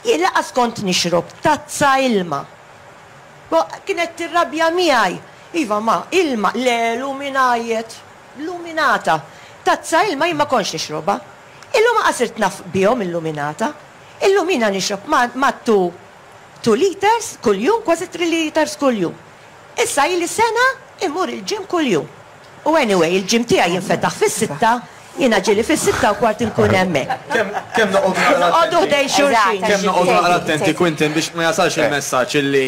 Jien lanqas kont nixrob tazza ilma. Bo, kienet tirrabja miegħi. Iva, ma, ilma, le, luminaiet, luminata. Tazza ilma jien ma kontx nixrobha. Illum anqas sirt naf bihom il-luminata. Illum jiena nixrob ma, ma two, two litres kuljum, kważi three litres kuljum. Issa ili sena immur il-gym kuljum. U anyway, il-gym tiegħi jinfetaħ fis-sitta, jiena ġieli fis-sitta u kwart inkun hemmhekk. Kemm noqogħdu naqra attenti. Noqogħdu ħdejn xulxin. Kemm noqogħdu naqra attenti, Quintin, biex ma jasalx il-messaġġ illi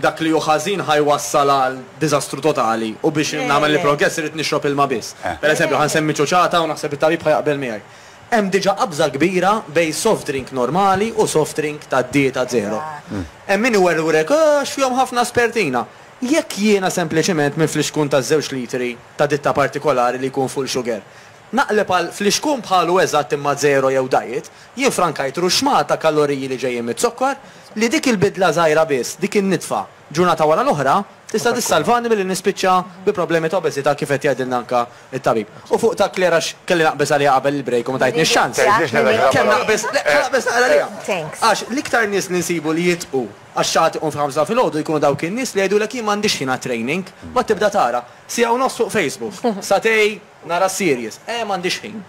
dak li hu ħażin ħa jwassal għal diżastru totali u biex nagħmel il-progress irrid nixrob ilma biss. Per eżempju, ħa nsemmi ċuċata u naħseb it-tabib ħa jaqbel miegħi. Hemm diġà qabża kbira bejn soft drink normali u soft drink tad-dieta zero. Hemm min iwerwrek, Ahh, x'fihom ħafna spertina. Jekk jiena sempliċiment minn flixkun ta' żewġ litri ta' ditta partikolari li jkun full sugar, naqleb għal flixkun bħalu eżatt imma żero jew diet, jien frankajt ruxxmah ta' kaloriji li ġejjin miz-zokkor li dik il-bidla żgħira biss, dik in-nitfa, ġurnata wara l-oħra, tista' tissalvani milli nispiċċa bi problemi ta' obeżità kif qed jgħidilna anke t-tabib. U fuq ta' Claire għax kelli naqbeż għaliha qabel il-break u ma tajtnix ċans. Kemm naqbeż, le, ħa naqbeż naqra għaliha. Għax l-iktar nies li nsibu li jitqu, Għax xi ħadd iqum fil-ħamsa ta' filgħodu jkunu dawk in-nies li jgħidulek jien m'għandix ħin għat-training. Mbagħad tibda tara, siegħa u nofs fuq Facebook, satay nara s-series, eh m'għandix ħin.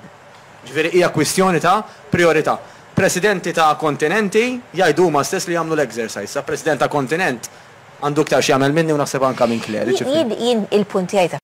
Ġifieri hija kwistjoni ta' prijorità. Presidenti ta' kontinenti jgħidu huma stess li jagħmlu l-exercise. Sa president ta' kontinent għandu iktar x'jagħmel minni u naħseb anke minn Claire, ġifieri. Jien il-punt tiegħi ta'.